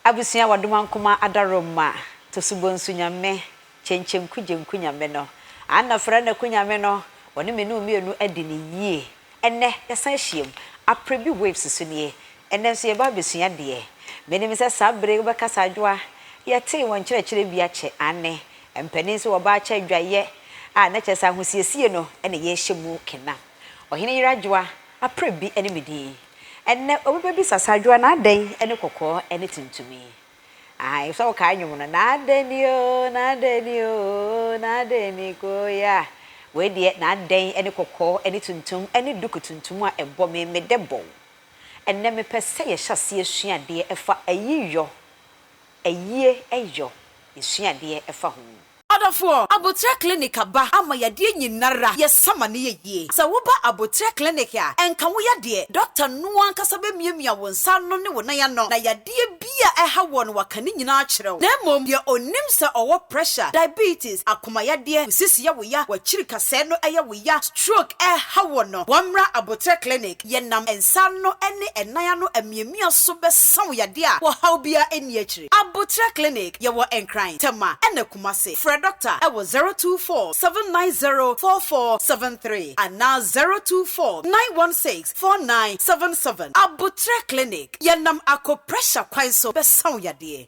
Abusua wɔdoma nkoma adarom ma Tosubɔ nsu nyame Kyenkyenku Gyenku nyame no Anna Fra Naku nyame no Wɔne me ne wo mmienu adi no yie Ɛnnɛ yɛsan ahyiam Aprɛ bi waves so nie Ɛnnɛ nso yɛba abɛsua deɛ Menim sɛ saa bere yi wobɛkasa adwoa Yɛtee wɔn nkyerɛkyerɛ bi akyɛ Aane mpanin so wɔba akyɛ adwayɛ a na kyerɛ sɛ ahosiesie no na yɛrehyɛ mu kena Ɔhene yere adwoa Aprɛ bi ne me din Ɛnnɛ obi bɛbisa sɛ adwoa no adɛn ne kɔkɔɔ ne tuntum yi? Ahaa ɛfisɛ wokae nnwom no, N'adɛn ni oo, n'adɛn ni oo, n'adɛn ni koyaa. Wei deɛ n'adɛn ne kɔkɔɔ ne tuntum ne duku tuntum a ɛbɔ me me dɛ bɔw. Ɛnnɛ mepɛ sɛ yɛhyɛ aseɛ sua adeɛ ɛfa ayiyɔ, ayie yɔ, yɛsua adeɛ ɛfa ho. Adɔfoɔ, aboterɛ clinic aba ama yadeɛ nyinara yɛ sama ne yɛ yie. Sɛ wo ba aboterɛ clinic a, ɛnka wo yadeɛ, doctor no ankasa bɛ miamia wo nsa ano ne wo nan ano na yadeɛ bi a ɛha woɔ no waka ne nyinaa akyerɛ wo. Na mmom deɛ ɔnim sɛ ɔwɔ pressure, diabetes, akoma yadeɛ, wo sisi yɛ wo ya, wakyiri kasɛɛ no yɛ wo ya, stroke ɛha woɔ no, wɔmmra aboterɛ clinic. yɛnam nsa ano ne ɛnan ano amiamia so bɛsa wo yadeɛ a ɔhaw biara nni akyire. Aboterɛ Clinic, Yɛwɔ Nkran, Tema ɛna Kumasi. Frɛ Dɔkta wɔ 024 790 4473 anaa 024 916 4977. Aboterɛ Clinic, Yɛnam akɔ pressure kwan so bɛsa wo yadeɛ.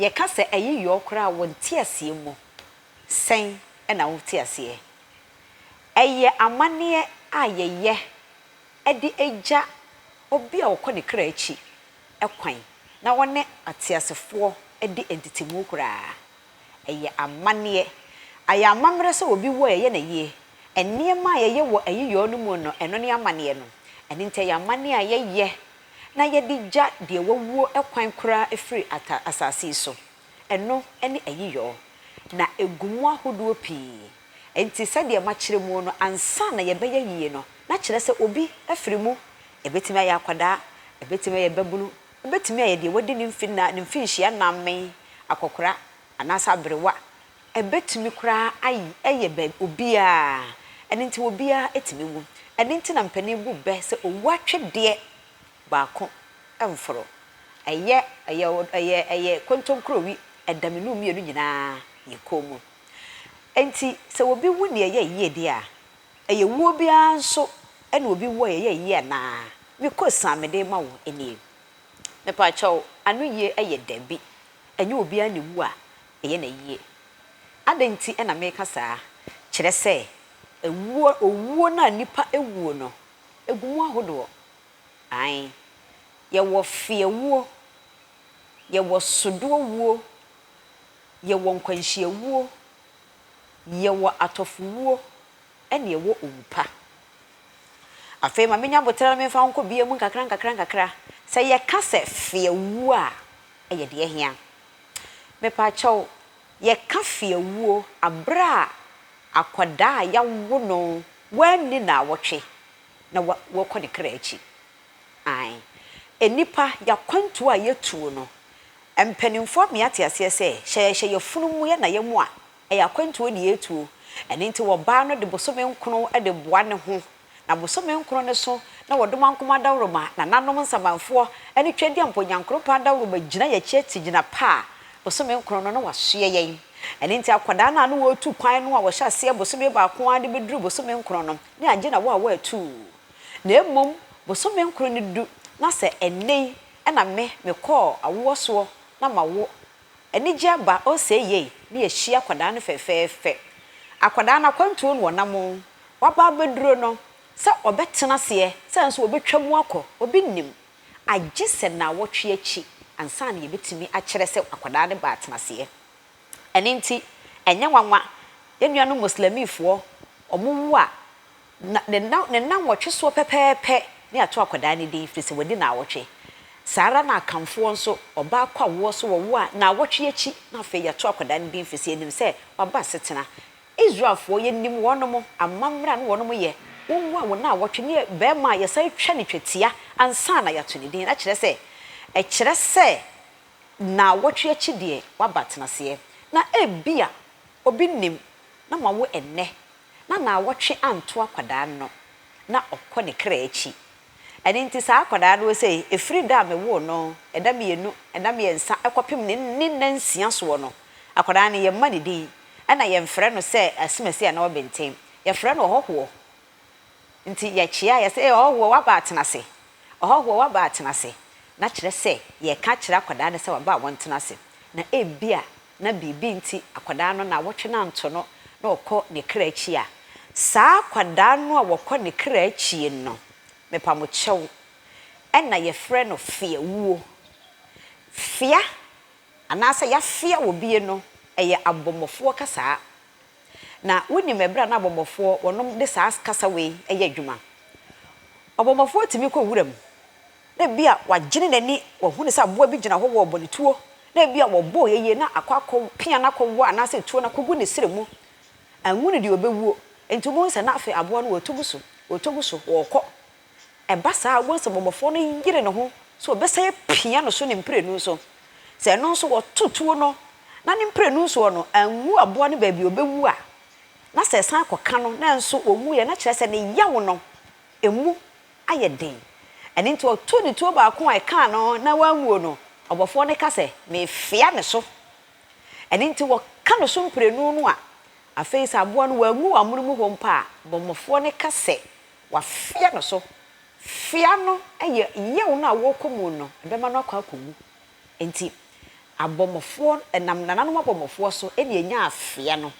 Yɛka sɛ ɛye yɔɔ koraa a wɔ nteaseɛ mu, sɛn na wo te aseɛ? Ɛyɛ amanneɛ a yɛyɛ de gya obi a ɔkɔ ne kra akyi kwan na wɔne ateasefoɔ di ntetemu koraa. Ɛyɛ amanneɛ. Ayɛ amammerɛ sɛ obi wu a yɛyɛ no ayie. Nneɛma a yɛyɛ wɔ ayiyɔɔ no mu no, ɛno ne amanneɛ no. Ɛno nti ɛyɛ amanneɛ a yɛyɛ na yɛde gya deɛ wawuo kwan koraa firi asase yi so. Ɛno ne ayiyɔɔ. Na ɛgu mu ahodoɔ pii. Enti sɛdeɛ makyerɛ mu no, ansa na yɛbɛyɛ yie no, na kyerɛ sɛ obi afiri mu, ɛbɛtumi ayɛ akwadaa, ɛbɛtumi ayɛ babunu, ɛbɛtumi ayɛ deɛ wadi ne mfe nnan, ne mfinhyia nnan mmɛn, akɔkora, anaasɛ aberewa, ɛbɛtumi koraa ay, ayɛ bɛ, obiara, ɛno nti obiara tumi wu. Ɛno nti na mpanin bu bɛ sɛ owuo atwedeɛ baako mforo. Ɛyɛ, ɛyɛ, ɛyɛ, ɛyɛ kontonkuro wi, ɛdamenu mmienu nyinaa yɛ komm. Enti sɛ obi wu nea ɛyɛ yie deɛ a, ɛyɛ wuo biara nso na obi wu a ɛyɛ yie anaa? Me kosan mede rema wo nie. Mepaakyɛw, anoyie yɛ dabi, ɛnyɛ obiara na ɛwu a ɛyɛ no ayie. Adɛn nti na meka saa? Kyerɛ sɛ, ɛwuo, owuo no a nnipa wuo no, ɛgu mu ahodoɔ. Aane. Yɛwɔ feawuo, yɛwɔ sodoɔ wuo. Yɛwɔ nkwanhyiawuo, yɛwɔ atɔfowuo, ɛna yɛwɔ owu pa. Afei ma menya aboterɛ na memfa wo nkɔ bia mu nkakra nkakra nkakra. Sɛ yɛka sɛ feawuo a, ɛyɛ deɛ ɛhia. Mepaakyɛw, yɛka feawuo aberɛ a akwadaa a yawo no, wanni naawɔtwe na wakɔ ne kra akyi. Ae. Nnipa, y'akwantuo a y'atuo no, mpaninfoɔ ama y'ate aseɛ sɛ, hyɛ yɛhyɛ y'afunu mu yɛ naeɛ mu a, ɛyɛ akwantuo na y'atuo. Ɛno nti wɔbaa no de bosome nkono de boa ne ho, na bosome nkono no so na wɔdomankoma adawuroma, nananom nsamanfoɔ, ne Twadiampo Nyankoropɔn adawuroma gyina y'akyi ati gyina pa a bosome nkono no na w'asoɛ yɛn. Ɛno nti akwadaa no a na wɔretu kwan no a wɔhyɛ aseɛ bosome baako ara de bɛduru bosome nkono no, ne agye na wɔ a wɔ atuu. Na mmom bosome nkron no du na sɛ ɛnnɛ yi na me mekɔɔ awoɔ soɔ na mawo anigye aba ɔsɛe yei na yɛahyia akwadaa no fɛfɛɛfɛ akwadaa no akwantuo no ɔnam o waba abɛduro no sɛ ɔbɛtena aseɛ sɛ nso ɔbɛtwa mu akɔ obi nnim agye sɛ naawɔtwe akyi ansa na yɛbɛtumi akyerɛ sɛ akwadaa no baa tenaseɛ ɛno nti ɛnyɛ nwanwa yɛn nuanom moslamifoɔ wɔn wo a Na ne nna, ne nnawɔtwe soɔ pɛpɛɛpɛ ne ato akwadaa no din, firi sɛ wadi nnawɔtwe. Saa ara na Akanfoɔ nso, ɔbaa kɔ awoɔ so wɔwo a, nnawɔtwe akyi na afei yɛato akwadaa no din, firi sɛ yɛnim sɛ waba asetena. Israelfoɔ, yɛnim wɔnom, amammerɛ a na wɔnom yɛ, wɔwo a, wɔ nnawɔtwe ne barima a yɛsan twa no twetia ansa na yɛato ne din, na kyerɛ sɛ, ɛkyerɛ sɛ nnawɔtwe akyi deɛ, waba atenaseɛ. Na ebia obi nim na moawo ɛnnɛ, na naawɔtwe anto akwadaa no na ɔkɔ ne kra akyi. Ɛno nti saa akwadaa no ɔsei, ɛfiri da a mewoo no, ɛda mmienu, ɛda mmiɛnsa, ɛkɔpem ne ne nna nsia soɔ no, akwadaa no yɛmma ne din, ɛna yɛmfrɛ no sɛ Asimasi anaa Ɔbenten. Yɛfrɛ no Ɔhɔhoɔ. Nti yɛkyea a yɛse, Ee Ɔhɔhoɔ waba atena ase, Ɔhɔhoɔ waba atena ase. Na kyerɛ sɛ yɛreka akyerɛ akwadaa no sɛ waba a wɔntena ase. Na ebia. na biribi nti akwadaa no nnawɔtwe no anto no na ɔkɔ ne kra akyi a, saa akwadaa no a wɔkɔ ne kra akyi no, mepa mo kyɛw, ɛna yɛfrɛ no feawuo. Fea anaasɛ yafea obie no, ɛyɛ abɔmmɔfoɔ kasaa. Na wonim ɛberɛ a na abɔmmɔfoɔ wɔnom de saa kasa wei yɛ adwuma? Ɔbɔmmɔfoɔ tumi kɔ wuram na ebia wagyene n'ani, wahunu sɛ aboa bi gyina hɔ wɔ ɔbɔ ne tuo, na ebia wɔbɔɔ yɛ yie na akɔ akɔ pia no akɔwɔ anaasɛ tuo no akɔgu ne serɛ mu. Anwu no deɛ ɔbɛwuo. Enti wobɛhu sɛ na afei aboa no ɔretu gu so, ɔretu gu so, ɔrekɔ. Ɛba saa a, wobɛhu sɛ bɔmmɔfoɔ no yere ne ho sɛ ɔbɛsan apia no so ne mprenu so. Sɛ ɛno nso wɔto tuo no na ne mprenu soɔ no anwu aboa no baabi a ɔbɛwu a, na sɛ ɛsan kɔka no nanso ɔnwuiɛ na kyerɛ sɛ ne yaw no Emu ayɛ den. Ɛno nti ɔtoo ne tuo baako a ɛkaa no na wanwuo no, ɔbɔfoɔ no ka sɛ, Mefea ne so. Ɛno nti wɔka ne so mprenu no a, afei sɛ aboa no wanwu wɔ amono mu hɔ mpo a, bɔmmɔfoɔ no ka sɛ, Wɔafea ne so. Fea no yɛ yaw no a wɔkɔ mu no, ɛbɛma no akɔ akɔwu. Enti abɔmmɔfoɔ, ɛnam nananom abɔmmɔfoɔ so na ɛnyaa fea no.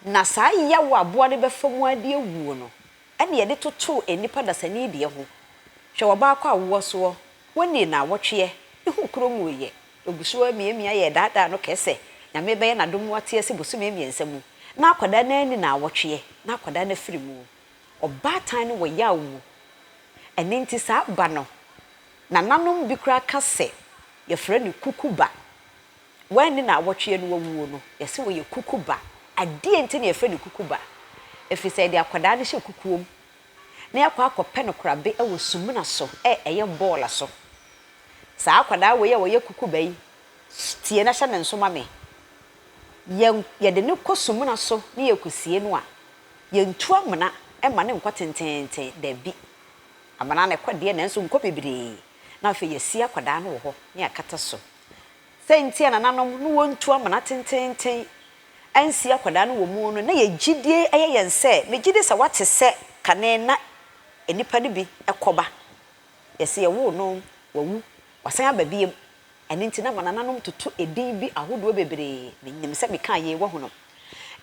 Na saa yaw a aboa no bɛfa mu ara de awuo no na yɛde totoo nnipa dasani deɛ ho. Hwɛ wɔbaakɔ awoɔ soɔ, wɔnnii naawɔtweɛ, ne ho kuro nwuiɛ, ɔgu so ara miamia yɛɛdaadaa no kɛɛsɛ Nyame bɛyɛ nadom mu ateɛ se bosome mmiɛnsa mu na akwadaa no ara nni naawɔtweɛ na akwadaa no afiri mu. Ɔbaatan no wɔ yaw mu. Ɛno nti saa ba no nananom bi koraa ka se yɛfrɛ no kuku ba. Woanni naawɔtwe a ne wawuo no, yɛse woyɛ kuku ba. Adeɛ nti na yɛfrɛ no kuku ba? Ɛfiri sɛ yɛde akwadaa no hyɛ kukuom na yɛakɔ akɔpɛ no korabe wɔ sumina so ɛ ɛyɛ bɔɔla so. Saa akwadaa wei a ɔyɛ kuku ba yi, tie na hyɛ ne nso ma me, yɛ yɛde no kɔ sumina so ne yɛkɔsie no a, yɛntu amena mma no nkɔ tenteenten, daabi. Amena na ɛkɔ deɛ nanso nkɔ bebree, na afei yɛasie akwadaa no wɔ hɔ na yɛakata so Sɛ nti a nananom no wɔntu amena tenteenten ansi akwadaa no wɔ mu no, na yɛ gyidie yɛ yɛn sɛ, me gyidi sɛ w'ate sɛ kane na nnipa no bi kɔ ba, yɛ se yɛwoo no, wawu, wasan aba biom, ɛno nti na ma nananom toto edin bi ahodoɔ bebree, me nyim sɛ me kaa yei wahunu.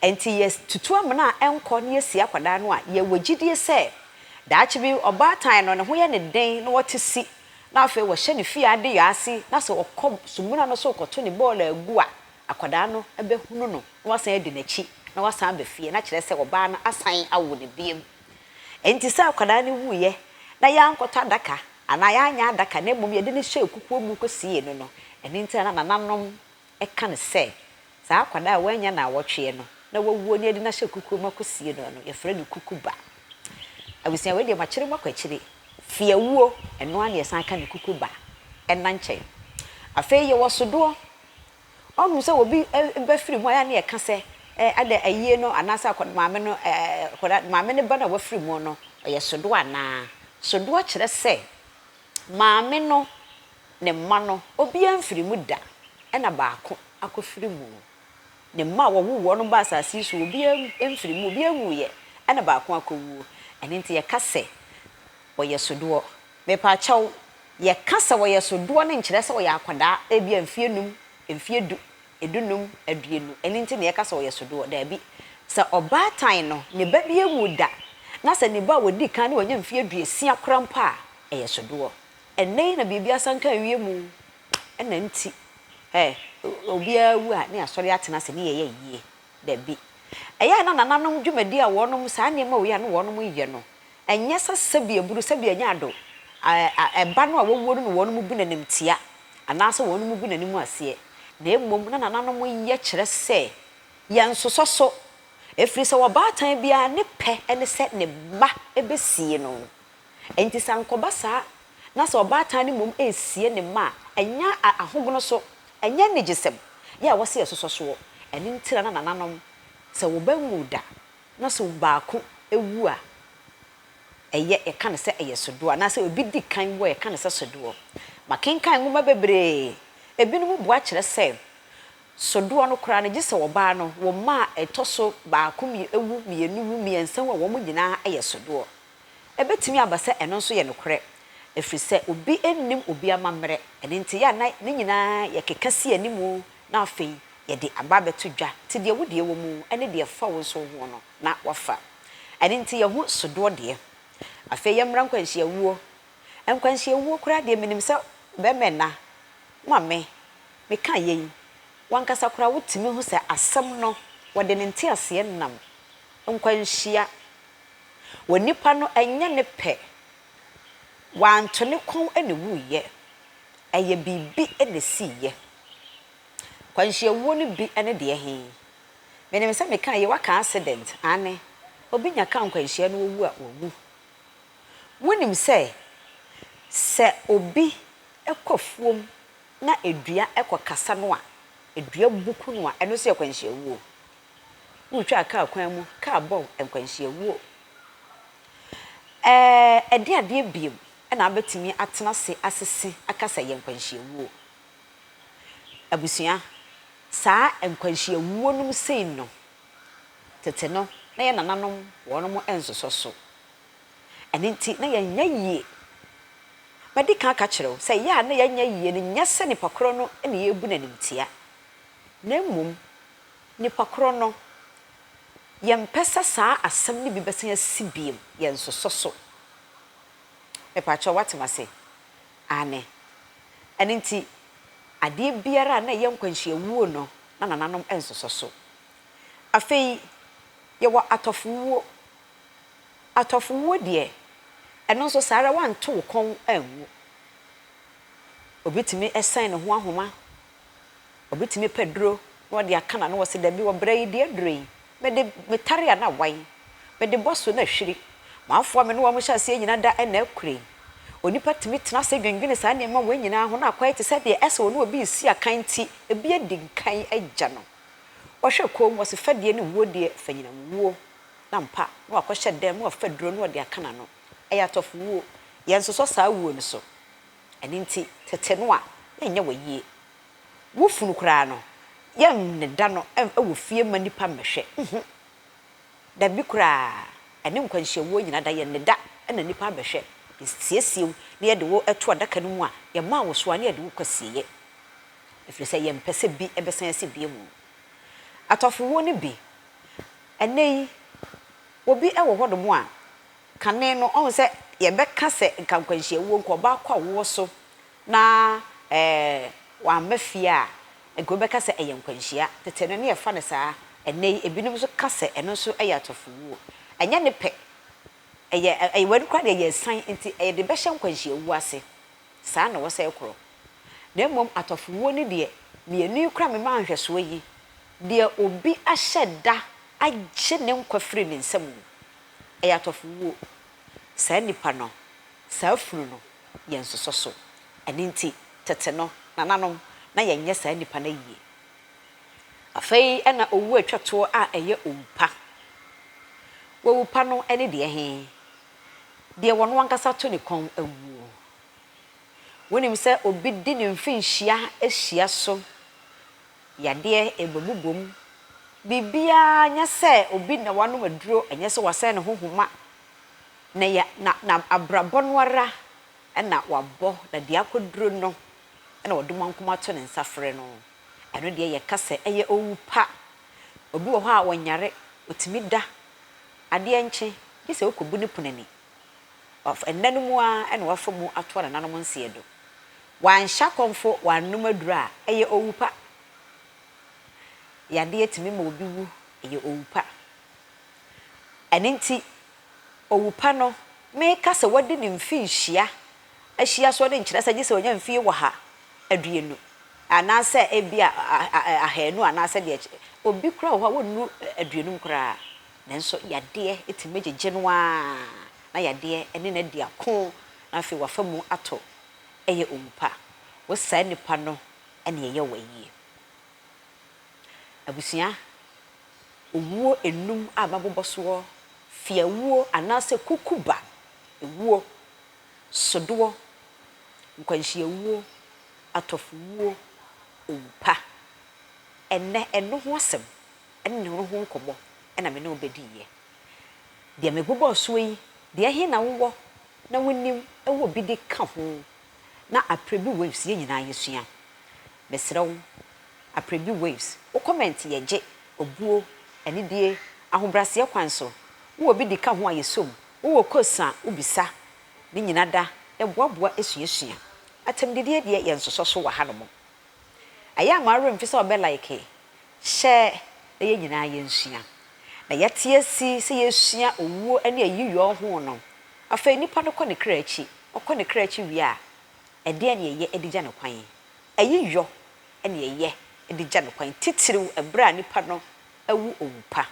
Enti yɛtutu amena a ɛnkɔ na yesi akwadaa no a, yɛwɔ gyidie sɛ daakye bi ɔbaatan no ne ho yɛ no den na ɔte si na afei wɔhyɛ ne fie adeyɔ ase na sɛ ɔkɔ sumina no so rekɔto ne bɔɔlo agu a, akwadaa no bɛhunu no na wasan adi n'akyi na wasan aba fie na kyerɛ sɛ ɔbaa no asan awo no biom. Enti sɛ akwadaa no wuiɛ na yɛankɔtɔ adaka anaa yɛanyɛ adaka na mmom yɛde no hyɛɛ kukuo mu kɔsiee no no, ɛno nti na na nananom Ɛka no sɛ, Saa akwadaa a wannya nnawɔtweɛ no na wawuo na yɛde no ahyɛ kukuo mu akɔsie no no, yɛfrɛ no kukuba. Abusua wei deɛ makyere mo akɔ akyire. Fiawuo, ɛno ara na yɛsan ka no kukuba ɛna nkyɛn. Afei yɛwɔ sodoɔ. Ɔhunu sɛ obi ba firi mu a, ɛyɛ a na yɛka sɛ, Ɛ, adɛn, ayie no anaasɛ akwadaa, maame no, ɛ, akwadaa, maame no ba no a wafiri mu no, ɔyɛ sodoɔ anaa? Sodoɔ kyerɛ sɛ Maame no, ne mma no, obiara mfiri mu da, ɛna baako akɔfiri mu. Ne mma a wɔwoo wɔn no baa asase yi so, obiara mfiri mu, obiara nwuiɛ, ɛna baako akɔwuo. Ɛno nti yɛka sɛ, Wɔyɛ sodoɔ. Mepa kyɛw, yɛka sɛ wɔyɛ sodoɔ no nkyerɛ sɛ ɔyɛ akwadaa, ebia mfeɛ num, mfeɛ du, Edunnum aduonu. Ɛno nti na yɛka sɛ ɔyɛ sodoɔ? Daabi. Sɛ ɔbaatan no, ne ba bi anwu da, na sɛ ne ba a ɔdi kan no wanya mfeɛ aduosia koraa mpo a, ɛyɛ sodoɔ. Ɛnnɛ yi na biribi asanka awie mu, ɛna nti ɛ, obiara wu a, ne asɔre atena ase, ne yɛyɛ ayie. Daabi. Ɛyɛ a na nananom dwumadie a wɔnom, saa nneɛma wei a na wɔnom yɛ no, Ɛnyɛ sɛ sɛdeɛ aburo, sɛdeɛ ɛnyɛ ado, ɛ, ba no a wɔwuo no ne wɔn mu bi na animtia, anaa sɛ wɔn mu bi na anim aseɛ, na mmom na nananom yɛ kyerɛ sɛ, Yɛnsosɔ so, ɛfiri sɛ ɔbaatan biara ne pɛ ne sɛ ne ba bɛsie no. Enti sɛ ankɔba saa na sɛ ɔbaatan no mmom resie ne mma a, ɛnyɛ a, ahogono so, ɛnyɛ anigyesɛm, yɛ a wɔse yɛsosɔ soɔ, ɛno nti na na nananom, sɛ wɔba nwuu da, na sɛ baako wu a, ɛyɛ, yɛka no sɛ ɛyɛ sodoɔ, anaasɛ obi di kan wu a, yɛka no sɛ sodoɔ. Makenkan nwoma bebree, ebinom bua kyerɛ sɛ sodoɔ no koraa no, gye sɛ ɔbaa no, wo mma a ɛtɔ so baako wu, mmienu wu, mmiɛnsa wu a, wɔn nyinaa yɛ sodoɔ. Ɛbɛtumi aba sɛ ɛno nso yɛ nokorɛ, ɛfiri sɛ obi nnim obi amammerɛ, ɛno nti yɛ a na ne nyinaa yɛkeka si anim Na afei yɛde aba abɛto dwa, te deɛ wodeɛ wɔ mu ne deɛ ɛfa wo nso ho no, na wafa. Ɛno nti yɛho sodoɔ deɛ. Afei yɛmmra nkwanhyiawuo. Nkwanhyiawuo koraa deɛ menim sɛ bɛmɛ na, ma me, meka yei, wankasa koraa wotumi hu sɛ asɛm no wɔde ne nteaseɛ nam nkwanhyia wɔ nipa no ɛnyɛ ne pɛ Wanto ne kɔn na wuiɛ, ɛyɛ biribi na ɛsiiɛ. Akwanhyiawuo no bi ne deɛ he? Menim sɛ mekaa yei, woaka accident, aane, obi nya kaa nkwanhyia na ɔwu a, wawu. Wonim sɛ, sɛ obi kɔ afuom na dua kɔkasa no a, dua buku no a, ɛno nso yɛ akwanhyiawuo. Wotwaa kaa kwan mu kaa bɔɔ nkwanhyia wuo. Ɛɛ, ɛdeɛn adeɛ biom na abɛtumi atena ase asese aka sɛ ɛyɛ nkwanhyia wuo? Abusua, saa nkwanhyia wuo nom sei no, tete no na yɛn nananom wɔnom nsosɔ so. Ɛno nti na yɛn nyɛ yie. Madi kan aka kyerɛ wo sɛ yɛ a na yɛn nyɛ yie no nyɛ sɛ nipa korɔ no na yɛrebu no animtia, na mmom, Nipa koro no. Yɛmpɛ sɛ saa asɛm no bi bɛsan asi bio, yɛnsosɔ so. Mepakyɛw, woate m'ase? Aane. Ɛno nti, adeɛ biara a na ɛyɛ nkwanhyia wuo no, na nananom nsosɔ so. Afei, yɛwɔ atɔfowuo. Atɔfowuo deɛ, ɛno nso saa ara, woanto wo kɔn anwu. Obi tumi sɛn ne ho ahoma. Obetumi pɛ duro na ɔde aka n'ano wɔ se, Dabi, wɔ bere yi deɛ duro yi, mede metare a na awae, mede bɔ so na ahwiri. M'afoa a me ne wɔn hyɛ aseɛ nyinaa da na akure. Onipa tumi tena ase dwendwene saa nneɛma wei nyinaa ho na akwae te sɛ deɛ ɛsɛ ɔne obi resi akan nti, ebi adi nkan agya no. Wɔhwɛ komm, wɔse fɛdeɛ ne wuo deɛ, fa nyinam wuo. Na ampa, na wakɔhyɛ dɛm na wafa duro na ɔde aka n'ano. Ɛyɛ atɔfowuo. Yɛnsosɔ saa wuo no so. Ɛno nti, tete no a, na ɛnyɛ w'ayie. Wo funu koraa no, yɛnneda no wɔ fie mma nnipa mmɛhwɛ. Nhu. Dabi koraa, ɛne nkwanhyiawuo nyina da, yɛnneda na nnipa abɛhwɛ. Yɛsiesie wo na yɛde wo to adaka no mu a, yɛmaa wo soa na yɛde wo kɔsieeɛ, ɛfiri sɛ yɛmpɛ sɛ bi bɛsan asi bio. Atɔfowuo no bi, Ɛnnɛ yi, obi wɔ hɔnom a, Kane no, ɔho sɛ yɛbɛka sɛ nka nkwanhyia wuo, nka ɔbaako a wowɔ so na wamma fie a, nka wobɛka sɛ ɛyɛ nkwanhyia. Tete no, na yɛfa no saa. Ɛnnɛ yi, ebinom nso ka sɛ ɛno nso yɛ atɔfowuo. Ɛnyɛ ne pɛ. Ɛyɛ, ɛyɛ w'ani koraa deɛ, ɛyɛ asiane nti yɛde bɛhyɛ nkwanhyia wuo ase. Saa na wɔsɛe korɔ. Na mmom atɔfowuo no deɛ, mmienu yi koraa mema nhwɛsoɔ yi, deɛ obi ahyɛ da agye ne nkwa firi ne nsa mu, Ɛyɛ atɔfowuo. Saa nipa no, saa funu no yɛ nsosɔso. Ɛno nti, tete no, nananom, na yɛnyɛ saa nipa no ayie. Afei na owuo a ɛtwa toɔ a ɛyɛ owu pa. Wowu pa no ne deɛ he? Deɛ ɔno ankasa to ne kɔn wuo. Wonim sɛ obi de ne mfinhyia hyia so Yadeɛ ɛbɛbobom. Biribiara nyɛ sɛ obi na wanom aduro, ɛnyɛ sɛ wasɛn ne ho homa, na ya, na, na abrabɔ no ara na wabɔ, na deɛ akɔduro no na ɔde moankum ato ne nsa frɛ no. Ɛno deɛ yɛka sɛ ɛyɛ owu pa. Obi wɔ hɔ a ɔnyare, ɔtumi da, adeɛ nkye, gye sɛ ɔkɔbu ne pono ani. Waf, ɛnna no mu ara na wafa mu ato anananom nseɛ do. Wanhyɛ akɔmfo, wannom aduru a, ɛyɛ owu pa. Yadeɛ tumi ma obi wu, ɛyɛ owu pa. Ɛno nti, owu pa no, meka sɛ wadi ne mfe nhyia, ahyia so de nkyerɛ sɛ gye sɛ ɔnya mfie ɔha, aduonu, anaasɛ ebia ahanu anaasɛ deɛ ɛkyɛ. Obi koraa wɔ hɔ a, ɔnnu aduonum koraa, nanso yadeɛ tumi gyegye no ara, na yadeɛ ne no adi ako, na afei wafa mu ato yɛ owu pa. Wo saa nipa no na ɛyɛ wo ayie. Abusua, owuo nnum a mabobɔ soɔ, fiawuo anaasɛ kukuba wuo, sodoɔ, nkwanhyia wuo, atɔfo wuo, owu pa. Ɛnnɛ, ɛno ho asɛm ne ne ho nkɔmmɔ na me ne wo bɛdiiɛ. Deɛ mebobɔɔ soɔ yi, deɛ ɛhe na wowɔ na wonim wɔ bi de ka ho na aprɛ bi waves yɛ nyinaa yɛ sua mesrɛ wo aprɛ bi waves wo comment yɛ gye obuo anidie ahobraseɛ kwan so wo wɔ bi de ka ho a yɛ sɔ mu wo wɔ quotes a wo bisa ne nyina da yɛ boa boa sua sua atam didie deɛ yɛ nsosɔ so wɔ ha no mo. Ɛyɛ a mo awerɛ mfi sɛ ɔbɛ like, share na yɛn nyinaa yɛnsua. Na yɛte asi sɛ yɛsua owuo ne ayiyɔɔ ho no, afei nipa no kɔ ne kra akyi, ɔkɔ ne kra akyi wie a, ɛdeɛn na yɛyɛ de gya no kwan? Ayiyɔ na yɛyɛ de gya no kwan, titiriw ɛberɛ a nipa no awu owu pa.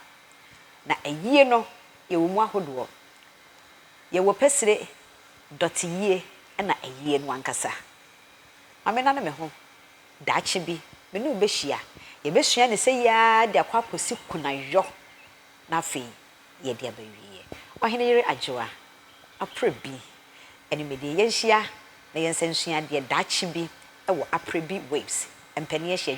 Na ayie no yɛwɔ mu ahodoɔ, yɛwɔ pɛsire, dɔteyie na ayie no ankasa. Ma mennane me ho. Daakye bi, me ne wo bɛhyia. Yɛbɛsua no sɛ yi ara de akɔ akɔsi kunayɔ, na afei yɛde aba awieɛ. Ɔhene yere Adwoa, Aprɛ bi, Animdie. Yɛnhyia na yɛnsa nsua adeɛ daakye bi wɔ Aprɛ bi Waves, Mpanin Ahyia